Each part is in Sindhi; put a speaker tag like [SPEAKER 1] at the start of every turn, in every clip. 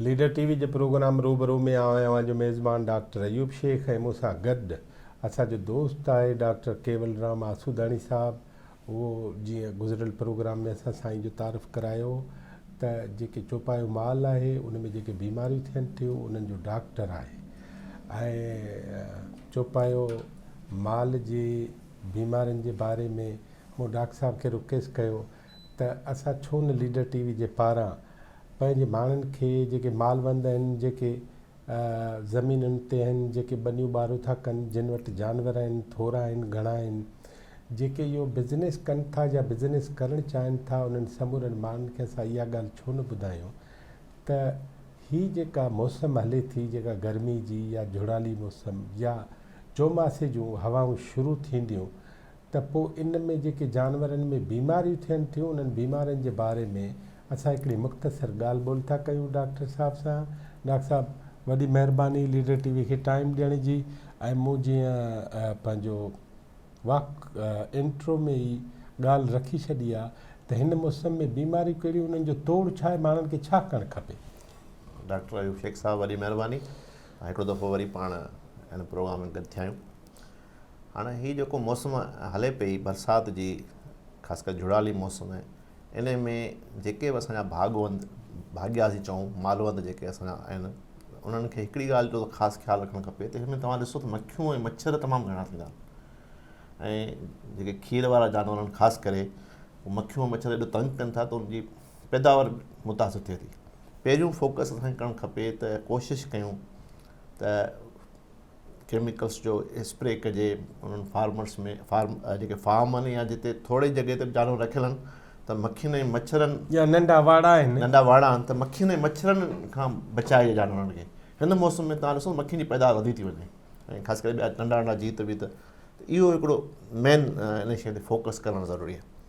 [SPEAKER 1] ليڊر ٽي وي جي پروگرام روبرو ۾ آئون اوهان جو ميزبان ڊاڪٽر ايوب شيخ ۽ مون سان گڏ اسان جو دوست آهي ڊاڪٽر ڪيولرام آسوداڻي صاحب اهو جيئن گذريل پروگرام ۾ اسان سائين جو تعارف ڪرايو ته جيڪي چوپايو مال آهي ان ۾ جيڪي بيماريون ٿين ٿيون انهن جو ڊاڪٽر آهي ۽ چوپايو مال جي بيمارين جي باري ۾ مون ڊاڪٽر صاحب کي رڪيس ڪيو ته اسان ڇو نه ليڊر ٽي وي جي پاران پنهنجي ماڻهن کي جيڪي مالوند آهن جيڪي زمينن تي آهن جيڪي ٻنيون ٻارو ٿا ڪن جن وٽ جانور آهن ٿورا آهن گهڻا آهن جيڪي اهو بزنس ڪن ٿا يا بزنس ڪرڻ چاهن ٿا انهن سمورن ماڻهن کي اسان اها ڳالهه ڇو نه ٻڌايون ته هي جيڪا موسم هلي ٿي جيڪا گرمي جي يا جهڙالي موسم يا چوماسي جون هوائون شروع ٿينديون ته پوء ان ۾ جيڪي جانورن ۾ بيماريون ٿين ٿيون انهن بيمارين جي باري ۾ اسان هڪڙي مختصر ڳالهه ٻولهه ٿا ڪيون ڊاڪٽر صاحب سان. ڊاڪٽر صاحب وڏي مهرباني ليڊر ٽي وي کي ٽائيم ڏيڻ جي ۽ مون جيئن پنهنجو واڪ انٽرو ۾ ئي ڳالهه رکي ڇڏي آ ته هن موسم ۾ بيماريون ڪهڙيون انهن جو توڙ ڇا آهي ماڻهن کي ڇا ڪرڻ کپي. ڊاڪٽر
[SPEAKER 2] ايوب شيخ صاحب وڏي مهرباني ۽ هڪڙو دفعو وري پاڻ هن پروگرام ۾ گڏ ٿيا آهيون. هاڻ هي جيڪو موسم هلي پئي برسات جي خاص ڪري جهڙالي موسم ان ۾ جيڪي به اسانجا ڀاڳوند ڀاڳيا سي چئون مالوند جيڪي اسانجا آهن انهن کي هڪڙي ڳالهه جو خاص خيال رکڻ کپي ته هن ۾ توهان ڏسو ته مکيون ۽ مڇر تمام گهڻا ٿيندا آهن ۽ جيڪي کير وارا جانور آهن خاص ڪري مکيون ۽ مڇر ايڏو تنگ ڪن ٿا ته ان جي پيداوار متاثر ٿئي ٿي پهريون فوڪس اسانکي ڪرڻ کپي ته ڪوشش ڪيون ته ڪيميڪلس جو اسپري ڪجي انهن فارمرس ۾ فارم جيڪي فارم آهن يا جتي ٿوري جڳهه تي جانور رکيل آهن ته مکين ۽ مڇرن يا ننڍا واڙا آهن ننڍا
[SPEAKER 1] واڙا آهن ته مکين ۽
[SPEAKER 2] مڇرن کان بچائي جانورن کي هن موسم ۾ تان ڏسو مکين جي پيداوار وڌي ٿي وڃي ۽ خاص ڪري ٻيا ننڍا ننڍا جيت ويت اهو هڪڙو مين ان شيء تي فوڪس ڪرڻ ضروري آهي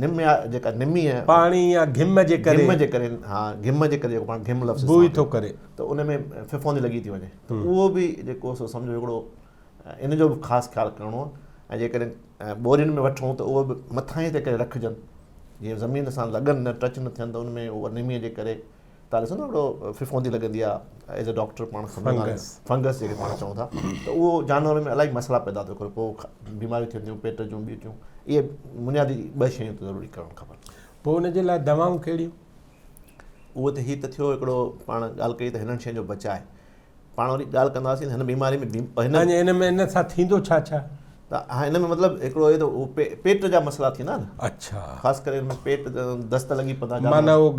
[SPEAKER 2] نم يا جيڪا نمي ۽ پاڻي يا گھم جي
[SPEAKER 1] ڪري گھم جي ڪري ها گھم
[SPEAKER 2] جي ڪري جيڪو پاڻ گھم لفظ بوء ٿو ڪري ته
[SPEAKER 1] ان ۾
[SPEAKER 2] ڦڦوندي لڳي ٿي وڃي ته اهو به جيڪو سو سمجھو هڪڙو ان جو به خاص خيال ڪرڻو آهي ۽ جيڪڏهن ٻورين ۾ وٺون ته اهو به مٿاهين تي ڪري رکجن جيئن زمين سان لڳن نه ٽچ نه ٿين ته ان ۾ اهو نمي جي ڪري تان ڏسو نه هڙو ڦڦوندي لڳندي آ ايز اي ڊاڪٽر پاڻ فنگس فنگس جيڪي پاڻ چئون ٿا ته اهو جانورن ۾ الائي مسئلا پيدا ٿو ڪري پوء بيماريون ٿين ٿيون پيٽ جون ٻيون ٿيون اهي بنيادي ٻه شيون ضروري ڪرڻ کپن پوء ان جي لاء
[SPEAKER 1] دوائون ڪهڙيون
[SPEAKER 2] اهو ته هي ته ٿيو هڪڙو پاڻ ڳالهه ڪئي ته هنن شين جو بچاء پاڻ وري ڳالهه ڪنداسين هن بيماري ۾ هن ۾ ان سان
[SPEAKER 1] ٿيندو ڇا ڇا ته هن ۾
[SPEAKER 2] مطلب هڪڙو اهي ته پيٽ جا مسئلا ٿيندا نه اچھا خاص ڪري هن
[SPEAKER 1] ۾ پيٽ
[SPEAKER 2] دست لڳي پتا معنی هو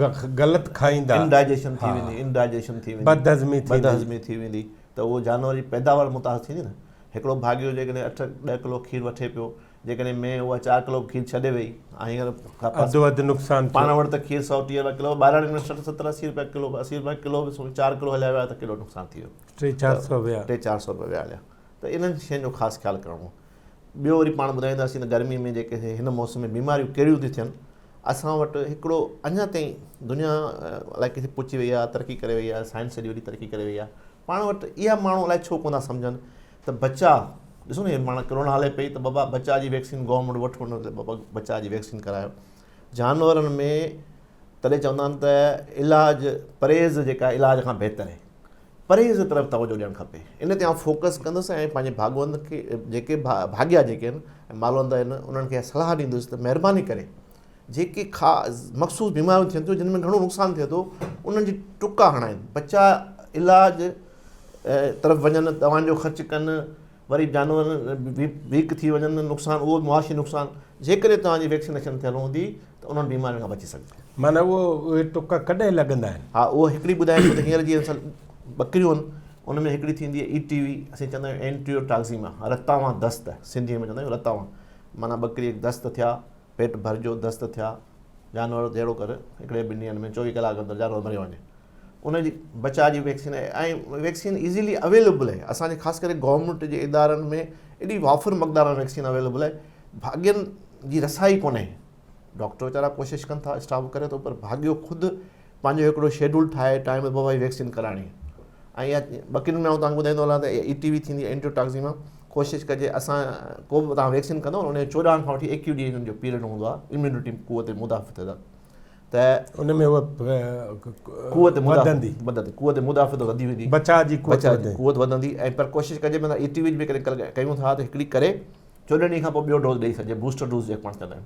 [SPEAKER 1] غلط کائيندا انڊائجيشن ٿي ويندي
[SPEAKER 2] انڊائجيشن ٿي ويندي بدهضمي ٿي بدهضمي ٿي ويندي ته هو جانور جي پيداوار متاثر ٿيندي نه هڪڙو ڀاڳيو جيڪڏهن اٺ ڏهه ڪلو کير وٺي پيو جيڪڏهن مينهن اها چار ڪلو کير ڇڏي وئي ۽ هينئر اڌو اڌ نقصان
[SPEAKER 1] پاڻ وٽ ته کير سؤ
[SPEAKER 2] ٽيهه روپيا ڪلو ٻاهران انويسٽر ستر اسي روپيا ڪلو اسي روپيا ڪلو به سمجهه چار ڪلو هليا ويا ته ڪيڏو نقصان ٿي ويو ٽي چار سؤ ويا ٽي چار سؤ روپيا ويا هليا ته انهن شين جو خاص خيال ڪرڻو ٻيو وري پاڻ ٻڌائينداسين ته گرمي ۾ جيڪي هن موسم ۾ بيماريون ڪهڙيون ٿيون ٿين اسان وٽ هڪڙو اڃا تائين دنيا الائي ڪٿي پهچي وئي آهي ترقي ڪري وئي آهي سائنس ايڏي وڏي ترقي ڪري وئي آهي پاڻ وٽ اها ماڻهو الائي ڇو ڪونه ٿا سمجهن ته بچاء ڏسو نه ماڻهو ڪرونا هلي پئي ته بابا بچاء جي ويڪسين گورنمينٽ وٺو نه ته بابا بچاء جي ويڪسين ڪرايو جانورن ۾ تڏهن چوندا آهن ته علاج پرهيز جيڪا علاج کان بهتر آهي پرهيز طرف توجه ڏيڻ کپي ان تي آئون فوڪس ڪندس ۽ پنهنجي ڀاڳوند کي جيڪي ڀاڳيا جيڪي آهن مالوند آهن انهن کي صلاح ڏيندس ته مهرباني ڪري جيڪي کا مخصوص بيماريون ٿين ٿيون جن ۾ گهڻو نقصان ٿئي ٿو انهن جي ٽڪا هڻائين بچا علاج طرف وڃن دوائن جو خرچ ڪن وري جانور ويڪ ٿي وڃن نقصان اهو معاشي نقصان جيڪڏهن توهان جي ويڪسينيشن ٿيل هوندي ته انهن بيمارين کان بچي سگهجي معنی اهو اهي
[SPEAKER 1] ٽڪا ڪڏهن لڳندا آهن ها اهو هڪڙي ٻڌايان ٿو
[SPEAKER 2] ته هينئر جي اصل ٻڪريون آهن ان ۾ هڪڙي ٿيندي آهي اي ٽي وي اسين چوندا آهيون اينٽيو ٽاڪزيما رتاوان دست سنڌي ۾ چوندا آهيون رتاوان معنی ٻڪري دست ٿيا پيٽ ڀر جو دست ٿيا جانور جهڙو ڪر هڪڙي ٻن ڏينهن ۾ چوويهه ڪلاڪ اندر جانور مري وڃي ان جي بچاء جي ويڪسين آهي ۽ ويڪسين ايزيلي اويليبل آهي اسان جي خاص ڪري گورنمنٽ جي ادارن ۾ ايڏي وافر مقدار ۾ ويڪسين اويليبل آهي ڀاڳين جي رسائي ڪونهي ڊاڪٽر ويچارا ڪوشش ڪن ٿا اسٽاف ڪري ٿو پر ڀاڳيو خود پنهنجو هڪڙو شيڊول ٺاهي ٽائيم تي وبائي ويڪسين ڪرائڻي ۽ اها ٻڪرين ۾ آئون توهان کي ٻڌائيندو هلان ته اي ٽي وي ٿيندي آهي اينٽيوٽاڪزيما ڪوشش ڪجي اسان ڪو به توهان ويڪسين ڪندو ان جو چوڏهن کان وٺي ايڪيهه ڏينهن جو پيريڊ هوندو آهي اميونٽي قوت مدافعت ته ان ۾ اها قوت وڌندي وڌندي قوت مدافعت وڌي ويندي بچاء جي قوت بچاء جي
[SPEAKER 1] قوت وڌندي ۽
[SPEAKER 2] پر ڪوشش ڪجي مطلب اي ٽي وي به ڪري ڪيون ٿا ته هڪڙي ڪري چوڏهن ڏينهن کان پوء ٻيو ڊوز ڏيئي سگهجي بوسٽر ڊوز جيڪو پاڻ چوندا آهيون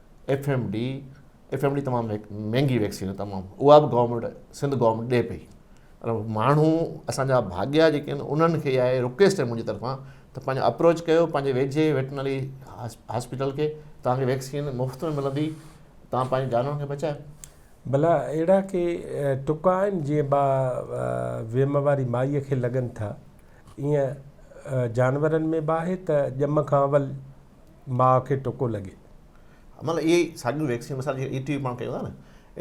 [SPEAKER 2] F M D F M D تمام مهنگي ويڪسين آهي تمام اها به گورنمنٽ سنڌ گورنمنٽ ڏي پئي پر ماڻهو اسانجا ڀاڳيا جيڪي آهن انهن کي اها آهي رڪويسٽ آهي منهنجي طرفان ته پنهنجو اپروچ ڪيو پنهنجي ويجهي ويٽنري هاسپيٽل کي تانکي ويڪسين مفت ۾ ملندي تان پنهنجي جانورن کي بچايو بلا
[SPEAKER 1] اهڙا ڪي ٽڪا آهن جي با ويم واري مائي کي لڳن ٿا ايئن جانورن ۾ به آهي ته ڄم کان اول ماء کي ٽڪو لڳي. مطلب اهي
[SPEAKER 2] ئي ساڳيون ويڪسين مثال جي اي ٽي پاڻ ڪيون ٿا نه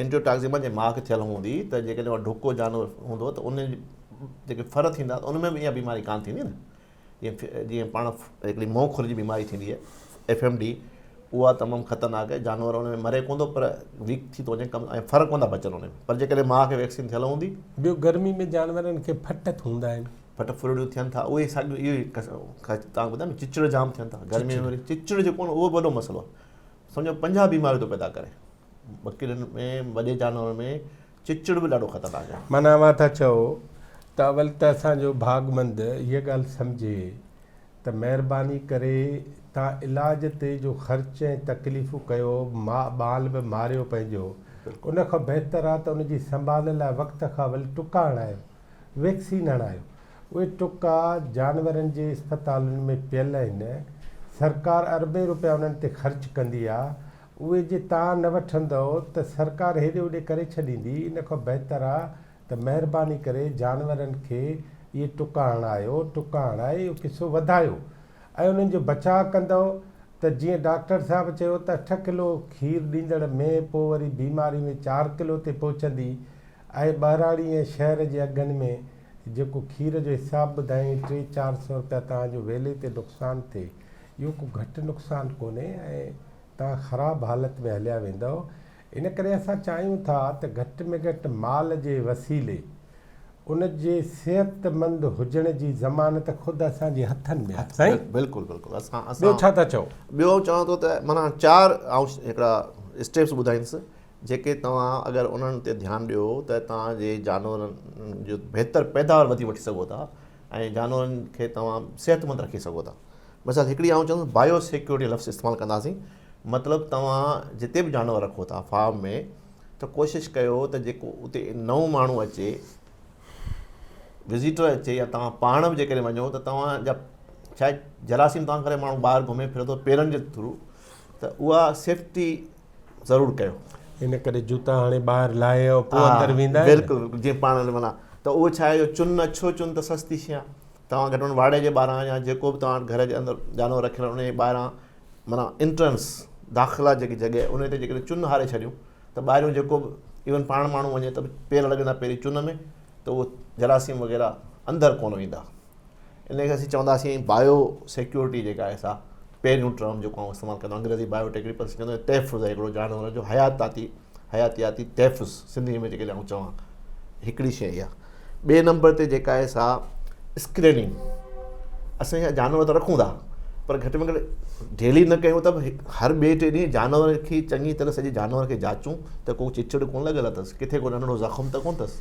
[SPEAKER 2] انٽيوٽاڪزيما جي ماء کي ٿيل هوندي ته جيڪڏهن اها ڍڪو جانور هوندو ته ان جي جيڪي ڦر ٿيندا ته ان ۾ به اها بيماري ڪانه ٿيندي نه جيئن جيئن پاڻ هڪڙي مئو کر جي بيماري ٿيندي آهي ايف ايم ڊي اها تمام خطرناڪ آهي جانور ان ۾ مري ڪون ٿو پر ويڪ ٿي ٿو وڃي ڪم ۽ ڦر ڪون ٿا بچن ان ۾ پر جيڪڏهن ماء کي ويڪسين ٿيل هوندي ٻيو گرمي ۾
[SPEAKER 1] جانورن کي ڦٽ ٿوندا آهن ڦٽ ڦرڙيون ٿين ٿا
[SPEAKER 2] اهي ساڳيو اهو ئي تان ٻڌايو چچڙ جام ٿين ٿا گرمي ۾ وري چچڙ جيڪو نه اهو وڏو مسئلو آهي سمجھو پنجاهه بيماريون ٿو پيدا ڪري ٻڪرين ۾ وڏي جانورن ۾ چچڙ به ڏاڍو خطرناڪ آهي معنی اوهان ٿا چئو
[SPEAKER 1] ته اول ته اسان جو ڀاڳمند هيء ڳالهه سمجھي ته مهرباني ڪري تان علاج تي جو خرچ ۽ تڪليفون ڪيو ماء ٻال به ماريو پنهنجو ان کان بهتر آهي ته ان جي سنڀال لاء وقت کان اول ٽڪا هڻايو ويڪسين هڻايو. اهي ٽڪا جانورن جي اسپتالن ۾ پيل آهن. سرڪار اربين روپيا انهن تي خرچ ڪندي آ. اهي جي تان نه وٺندؤ ته سرڪار هيڏي هوڏي ڪري ڇڏيندي. ان کان بهتر آ ته مهرباني ڪري جانورن کي اهي ٽڪا هڻايو. ٽڪا هڻائي اهو قصو وڌايو ۽ انهن جو بچاء ڪندؤ ته جيئن ڊاڪٽر صاحب چيو ته اٺ ڪلو کير ڏيندڙ مينهن پوء وري بيماري ۾ چار ڪلو تي پهچندي آهي ٻهراڙي ۽ شهر جي اگهن ۾ جيڪو کير جو حساب ٻڌائين ٽي چار سئو رپيا توهان جو ويلي تي نقصان ٿئي اهو ڪو گهٽ نقصان ڪونهي ۽ توهان خراب حالت ۾ هليا ويندؤ ان ڪري اسان چاهيون ٿا ته گهٽ ۾ گهٽ مال جي وسيلي ان جي صحت مند هجڻ جي ضمانت خود اسان جي هٿن ۾ آهي سائين بلڪل بلڪل اسان
[SPEAKER 2] ٻيو ڇا ٿا چئو
[SPEAKER 1] ٻيو چوان ٿو ته
[SPEAKER 2] معنيٰ چار آئون هڪڙا اسٽيپس ٻڌائينس جيڪي توهان اگر انهن تي ڌيان ڏيو ته توهان جي جانورن جو بهتر پيداوار وڌي وٺي سگهو ٿا ۽ جانورن کي توهان صحتمند رکي سگهو ٿا مثال هڪڙي آئون چوندس بايو سيڪيورٽي لفظ استعمال ڪنداسين مطلب توهان جتي به جانور رکو ٿا فارم ۾ ته ڪوشش ڪيو ته جيڪو اتي نئون ماڻهو اچي وزيٽر اچي يا توهان پاڻ به جيڪڏهن وڃو ته توهان جا شايد جراثيم توهان ڪري ماڻهو ٻاهر گهمي ڦري ٿو پيرن جي ٿرو ته اها سيفٽي ضرور ڪيو. ان ڪري جوتا
[SPEAKER 1] هاڻي ٻاهر لاهي ۽ پوء اندر ويندا آهن. بلڪل بلڪل جيئن پاڻ معنيٰ
[SPEAKER 2] ته اهو ڇا آهي جو چن اڇو چن ته سستي شيء آهي. توهان گهٽ ۾ گهٽ واڙي جي ٻاهران يا جيڪو به توهان گهر جي اندر جانور رکيل آهن ان جي ٻاهران معنيٰ انٽرنس داخلا جيڪي جڳهه ان تي جيڪڏهن چن هاري ڇڏيون ته ٻاهريون جيڪو به ايون پاڻ ماڻهو وڃي ته پير لڳندا پهرين چن ۾ ته اهو جراثيم وغيره اندر ڪونه ويندا. ان کي اسين چونداسين بايو سيڪيورٽي جيڪا آهي سا پهريون ٽرم جيڪو آئون استعمال ڪندو انگريزي بايو ٽيڪنيڪل چوندو آهي تحفظ آهي هڪڙو جانور جو حياتاتي حياتياتي تحفظ سنڌي ۾ جيڪڏهن آئون چوان هڪڙي شيء اها ٻئي نمبر تي جيڪا آهي سا اسڪريننگ اسان اها جانور ته رکون ٿا پر گهٽ ۾ گهٽ ڊيلي نه ڪيون ته هر ٻئي ٽي ڏينهن جانور کي چڱي طرح سڄي جانور کي جاچون ته ڪو چچڙ ڪونه لڳل اٿس ڪٿي ڪو ننڍڙو زخم ته ڪونه اٿس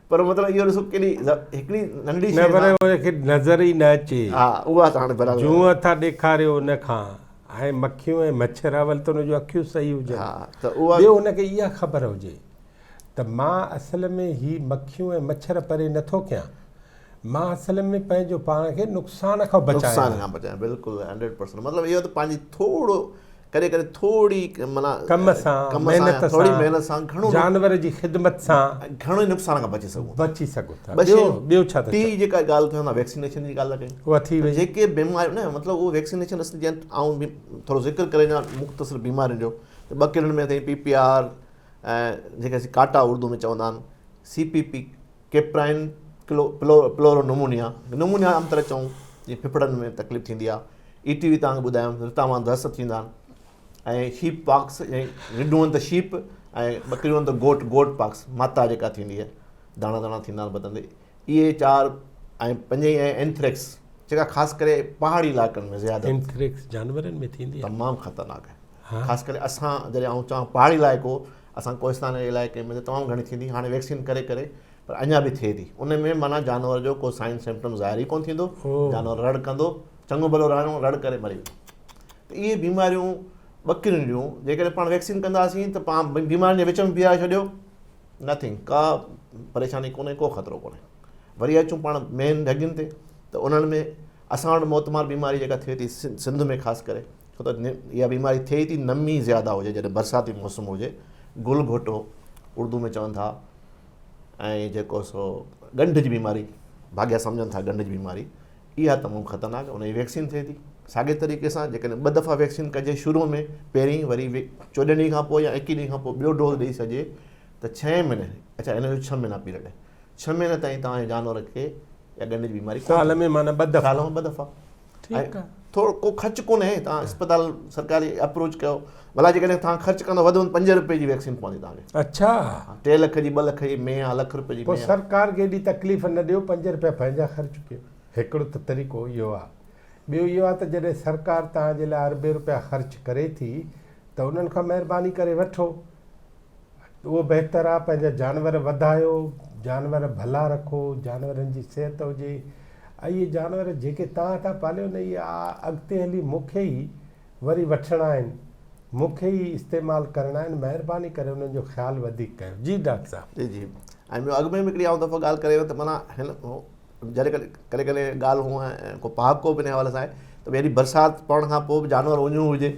[SPEAKER 1] پر
[SPEAKER 2] مطلب اهو ڏسو ڪيڏي هڪڙي ننڍي شيء کي ان کي
[SPEAKER 1] نظر ئي نه اچي ها اها ته هاڻي برابر
[SPEAKER 2] جونء ٿا ڏيکاريو
[SPEAKER 1] ان کان ۽ مکيون ۽ مڇر اول ته ان جون اکيون صحيح هجن ها ته اها ٻيو ان
[SPEAKER 2] کي اها خبر
[SPEAKER 1] هجي ته مان اصل ۾ هي مکيون ۽ مڇر پري نه ٿو ڪيان مان اصل ۾ پنهنجو پاڻ کي نقصان کان بچايان نقصان کان بچايان بلڪل
[SPEAKER 2] 100% مطلب اهو ته پنهنجي ٿورو ڪڏهن ڪڏهن ٿوري معنيٰ ڪم سان،
[SPEAKER 1] محنت سان، جانور جي
[SPEAKER 2] خدمت
[SPEAKER 1] سان گهڻي نقصان کان
[SPEAKER 2] بچي سگهون ٿا. بچي سگهون ٿا. ٻيو ڇا ٿا چئو؟ ٽي
[SPEAKER 1] جيڪا ڳالهه ڪيون
[SPEAKER 2] ٿا ويڪسينيشن جي ڳالهه ٿا ڪيون. اها ٿي وئي. جيڪي
[SPEAKER 1] بيماريون نه مطلب
[SPEAKER 2] اهو ويڪسينيشن اصل جيئن آئون به ٿورو ذڪر ڪري وڃان مختصر بيمارين جو ته ٻڪرين ۾ اٿئي پي پي آر ۽ جيڪي اسين ڪاٽا اردو ۾ چوندا آهن C P P caprine pleuropneumonia pneumonia pneumonia طرح چون جي ڦڦڙن ۾ تڪليف ٿيندي آهي اي ٽي وي تان ٻڌايم رتا مان درس ٿيندا آهن ۽ شيپ پاڪس ۽ رڍون ته شيپ ۽ ٻڪريون ته گوٽ گوٽ پاڪس ماتا جيڪا ٿيندي آهي داڻا داڻا ٿيندا آهن بدن تي اهي چار ۽ پنج ۽ اينٿريڪس جيڪا خاص ڪري پهاڙي علائقن ۾ زياده اينٿريڪس جانورن
[SPEAKER 1] ۾ ٿيندي آهي تمام خطرناڪ آهي
[SPEAKER 2] خاص ڪري اسان جڏهن آئون چوان پهاڙي علائقو اسان ڪوهستان جي علائقي ۾ تمام گهڻي ٿيندي هاڻي ويڪسين ڪري ڪري پر اڃا به ٿئي ٿي ان ۾ معنيٰ جانور جو ڪو سائن سمپٽم ظاهر ئي ڪونه ٿيندو جانور رڙ ڪندو چڱو ڀلو رهڻو رڙ ڪري مري ويندو اهي بيماريون ٻڪرين جون جيڪڏهن پاڻ ويڪسين ڪنداسين ته پاڻ بيمارين جي وچ ۾ بيهاري ڇڏيو نٿنگ ڪا پريشاني ڪونهي ڪو خطرو ڪونهي وري اچون پاڻ مين ڍڳين تي ته انهن ۾ اسان وٽ موتمار بيماري جيڪا ٿئي ٿي سنڌ ۾ خاص ڪري ڇو ته اها بيماري ٿئي ٿي نمي زياده هجي جڏهن برساتي موسم هجي گل گهوٽو اردو ۾ چون ٿا ۽ جيڪو سو ڳنڍ جي بيماري ڀاڳيا سمجهن ٿا ڳنڍ جي بيماري اها تمام خطرناڪ ان جي ويڪسين ٿئي ٿي ساڳي طريقي سان جيڪڏهن ٻه دفعا ويڪسين ڪجي شروع ۾ پهرين وري چوڏهن ڏينهن کان پوء يا ايڪيهه ڏينهن کان پوء ٻيو ڊوز ڏئي سجهي ته ڇهين مھيني اڇا هن جو ڇهه مھينا پيريڊ آهي ڇهه مھيني تائين توهان جي جانور کي يا ڳنڍ جي بيماري ڪونه سال ۾ معنيٰ ٻه دفعا
[SPEAKER 1] سال ۾ ٻه دفعا ٺيڪ
[SPEAKER 2] آهي ٿورو ڪو خرچ ڪونه اهي توهان اسپتال سرڪاري اپروچ ڪيو ڀلا جيڪڏهن توهان خرچ ڪندو وڌ وڌ پنج رپئي جي ويڪسين پوندي توهان کي اڇا ٽي لک
[SPEAKER 1] جي ٻه لک جي
[SPEAKER 2] مي آهي لک رپئي جي مي آهي سرڪار کي ايڏي
[SPEAKER 1] تڪليف نه ڏيو پنج رپيا پنهنجا خرچ ڪيو هڪڙو ته طريقو اهو آهي ٻيو اهو آهي ته جڏهن سرڪار توهان جي لاء اربين رپيا خرچ ڪري ٿي ته انهن کان مهرباني ڪري وٺو اهو بهتر آهي پنهنجا جانور وڌايو جانور ڀلا رکو جانورن جي صحت هجي اهي جانور جيڪي توهان ٿا پاليو نه اهي اڳتي هلي مون کي ئي وري وٺڻا آهن مون کي ئي استعمال ڪرڻا آهن مهرباني ڪري انهن جو خيال وڌيڪ ڪيو جي ڊاڪٽر صاحب جي جي ۽ ٻيو اڳ
[SPEAKER 2] ۾ به هڪڙي آئون دفعو ڳالهه ڪري ويو ته معنيٰ هن جڏهن ڪڏهن ڪڏهن ڪڏهن ڳالهه هونء ڪو پهاڪو به ان حوالي سان آهي ته ڀي هيڏي برسات پوڻ کان پوء به جانور اڃون هجي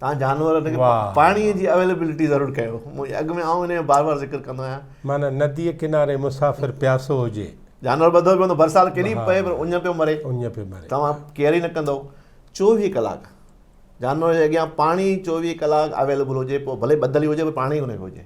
[SPEAKER 2] تان جانور ان کي پاڻي جي اويليبلٽي ضرور ڪيو اڳ ۾ آئون ان جو بار بار ذڪر ڪندو آهيان معنيٰ نديء
[SPEAKER 1] ڪناري مسافر پياسو هجي جانور ٻڌو پيو هوندو
[SPEAKER 2] برسات ڪيڏي به پئي پر اڃ پيو مري اڃ پيو مري توهان ڪيئر ئي نه ڪندو چوويهه ڪلاڪ جانور جي اڳيان پاڻي چوويهه ڪلاڪ اويليبل هجي پوء ڀلي ٻڌل ئي هجي پر پاڻي ان کي هجي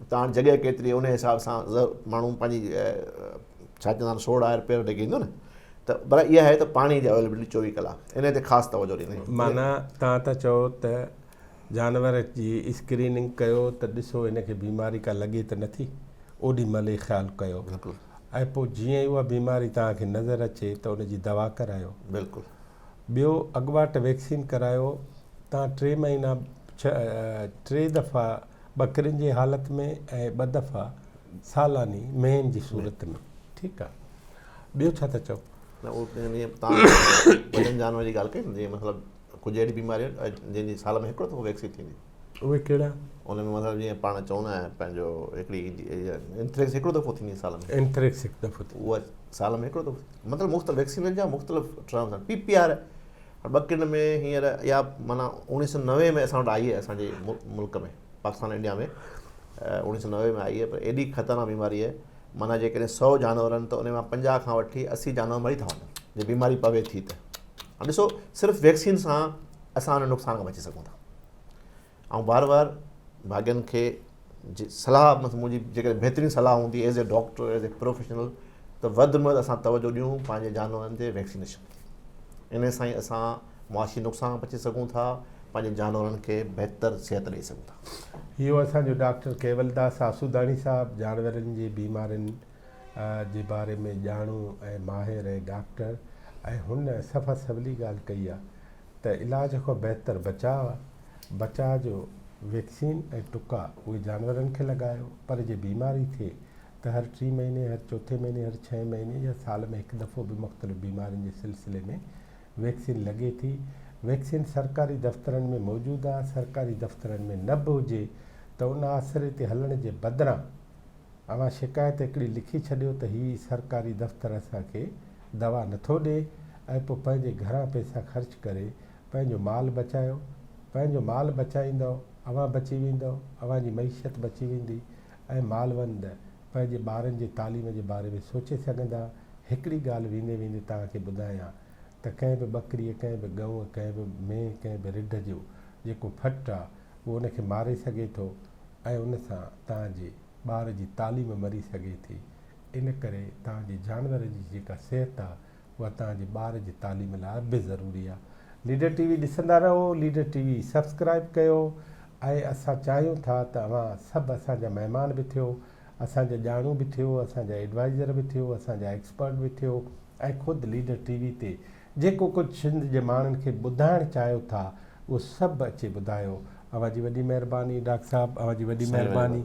[SPEAKER 2] اتان هاڻي جڳهه ڪيتري انهي حساب سان ماڻهو پنهنجي ڇا چوندا آهن سوڙ آهر پير ڊگهي ايندو نه ته برا اها آهي ته پاڻي جي اويلبلٽي چوويهه ڪلاڪ انهي تي خاص توجهه ڏيندي آهي معنيٰ توهان ٿا چئو
[SPEAKER 1] ته جانور جي اسڪريننگ ڪيو ته ڏسو هن کي بيماري ڪا لڳي ته نٿي اوڏي مهل ئي خيال ڪيو بلڪل ۽ پوء
[SPEAKER 2] جيئن ئي
[SPEAKER 1] اها بيماري توهان کي نظر اچي ته ان جي دوا ڪرايو بلڪل
[SPEAKER 2] ٻيو
[SPEAKER 1] اڳواٽ ويڪسين ڪرايو توهان ٽي مهينا ٽي دفعا ٻڪرين جي حالت ۾ ۽ ٻه دفعا سالاني مينهن جي صورت ۾ ٺيڪ آ ٻيو ڇا ٿا چئو نه اهو جيئن
[SPEAKER 2] تان وڏن جانورن جي ڳالهه ڪئي جيئن مطلب ڪجهه اهڙي بيماري جنهن جي سال ۾ هڪڙو دفعو ويڪسين ٿيندي اهي ڪهڙا
[SPEAKER 1] ان ۾ مطلب جيئن
[SPEAKER 2] پاڻ چون نه پنهنجو هڪڙي انٿريڪس هڪڙو دفعو ٿيندي سال ۾ انٿريڪس هڪ دفعو
[SPEAKER 1] اها سال ۾
[SPEAKER 2] هڪڙو دفعو مطلب مختلف ويڪسين جا مختلف ٽرمز آهن پي پي آر ٻڪن ۾ هينئر اها معنيٰ اوڻيهه سؤ نوي ۾ اسان وٽ آئي آهي اسان جي ملڪ ۾ پاڪستان انڊيا ۾ اوڻيهه سؤ نوي ۾ آئي آهي پر ايڏي خطرناڪ بيماري آهي معنيٰ جيڪڏهن سؤ جانور آهن ته انهي مان پنجاهه کان وٺي اسي جانور مري ٿا وڃن جي بيماري پوي ٿي ته هاڻ ڏسو صرف ويڪسين سان اسان ان نقصان کان بچي سگهون ٿا آئون بار بار ڀاڳين کي صلاح منهنجي جيڪڏهن بهترين صلاح هوندي as a doctor as a professional ته وڌ ۾ وڌ اسان توجه ڏيون پنهنجي جانورن تي ويڪسينيشن تي ان سان ئي اسان معاشي نقصان بچي سگهون ٿا پنهنجي جانورن کي بهتر صحت ڏيئي سگهون ٿا اهو اسان جو ڊاڪٽر
[SPEAKER 1] ڪيولداس آسوداڻي صاحب جانورن جي بيمارين جي باري ۾ ڄاڻو ۽ ماهر ۽ ڊاڪٽر ۽ هن صفا سولي ڳالهه ڪئي آهي ته علاج کان بهتر بچاء آهي، بچاء جو ويڪسين ۽ ٽڪا اهي جانورن کي لڳايو پر جي بيماري ٿئي ته هر ٽي مهيني، هر چوٿين مهيني، هر ڇهين مهيني يا سال ۾ هڪ دفعو به مختلف بيمارين جي سلسلي ۾ ويڪسين لڳي ٿي، ويڪسين سرڪاري دفترن ۾ موجود آهي، سرڪاري دفترن ۾ نه به هجي ته ان آسري تي هلڻ جي بدران. اوهان شڪايت هڪڙي لکي ڇڏيو ته هي سرڪاري دفتر اسان کي دوا نٿو ڏئي ۽ پوء پنهنجي گهران پئسا خرچ ڪري پنهنجو مال بچايو. پنهنجو مال بچائيندؤ، اوهان بچي ويندؤ، اوهان جي معيشت بچي ويندي ۽ مالوند پنهنجي ٻارن جي تعليم جي باري ۾ سوچي سگهندا. هڪڙي ڳالهه ويندي ويندي توهان کي ٻڌايان ته ڪنهن به ٻڪريء، ڪنهن به ڳئونء، ڪنهن به مينهن، ڪنهن به رڍ جو جيڪو ڦٽ آ، اهو ان کي ماري سگهي ٿو ۽ ان سان توهان جي. ٻار جي تعليم مري سگهي ٿي ان ڪري توهان جي جانورن جي جيڪا صحت آهي اها توهان جي ٻار جي تعليم لاء به ضروري آهي ليڊر ٽي وي ڏسندا رهو ليڊر ٽي وي سبسڪرائيب ڪيو ۽ اسان چاهيون ٿا ته اوهان سڀ اسان جا مهمان به ٿيو اسان جا ڄاڻو به ٿيو اسان جا ايڊوائيزر به ٿيو اسان جا ايڪسپرٽ به ٿيو ۽ خود ليڊر ٽي وي تي جيڪو ڪجھ سنڌ جي ماڻھن کي ٻڌائڻ چاھيو ٿا اھو سڀ اچي ٻڌايو اوھان جي وڏي مھرباني ڊاڪٽر صاحب اوھان جي وڏي مھرباني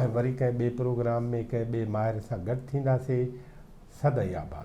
[SPEAKER 1] ۽ وري ڪنھن ٻئي پروگرام ۾ ڪنھن ٻئي ماھر سان گڏ ٿينداسي سدائين آباد.